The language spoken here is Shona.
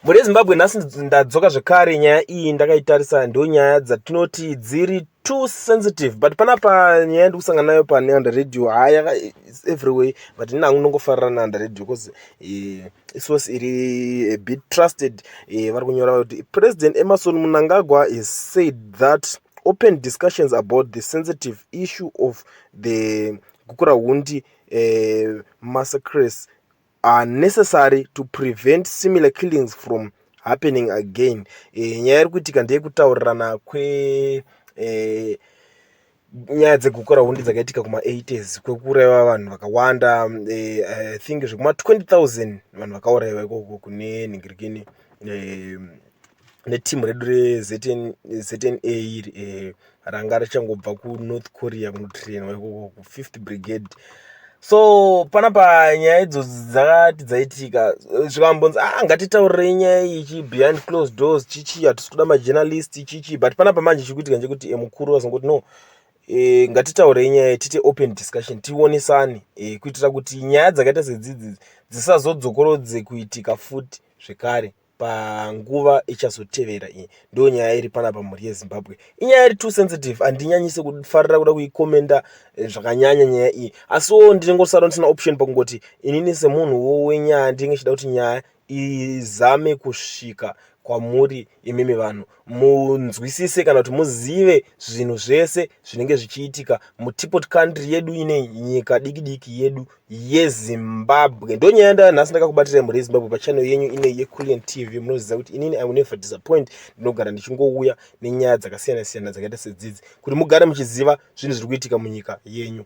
mune zimbabwe nhasi ndadzoka zvekare nyaya iyi ndakaitarisa ndo nyaya dzatinoti dziri too sensitive but panapa nyaya yandikusangana nayo paneanda radio haya everyway but ini hangu ndongofarira naanda radio bcause eh, isource iri a bit trusted eh, vari kunyora kuti president emerson munangagwa has said that open discussions about the sensitive issue of the gukura hundi eh, massacres are necessary to prevent similar killings from happening again e, nyaya iri kuitika ndeyekutaurirana kwe e, nyaya dzegukura hundi dzakaitika kuma-80s kwekuuraiwa vanhu vakawanda e, i think zvekuma-20 000 vanhu vakauraiwa ikoko kune nhingirikini e, neteam redu reZNA iri eh, ranga richangobva kuNorth Korea kunotrainwa ikoko kuFifth Brigade so panapa nyaya idzodzi dzakati dzaitika zvikambonzi ah ngatitaurirei nyaya iyi chi behind closed doors chichi hatisi kuda majournalist chichi but panapa manje chiri kuitika ndechekuti eh, mukuru vazongoti no e, ngatitaurei nyaya iyi tiite open discussion tionisane e, kuitira kuti nyaya dzakaita sedzidzi dzisazodzokorodze kuitika futi zvekare panguva ichazotevera iyi ndo nyaya iri pana pamhuri yezimbabwe inyaya iri too sensitive handinyanyise kufarira kuda kuikomenda eh, zvakanyanya nyaya iyi asiwo ndinengosara ndisina option pakungoti inini semunhu wo wenyaya ndinenge chida kuti nyaya izame kusvika kwamuri imimi vanhu munzwisise kana kuti muzive zvinhu zvese zvinenge zvichiitika mutipot country yedu ine nyika diki diki yedu yezimbabwe ndo nyaya ndaya nhasi ndakakubatirai mhuri yezimbabwe pachannel yenyu ine yeculian tv munoziva kuti inini i will never disappoint ndinogara ndichingouya nenyaya dzakasiyana siyana dzakaita sedzidzi kuti mugare muchiziva zvinhu zviri kuitika munyika yenyu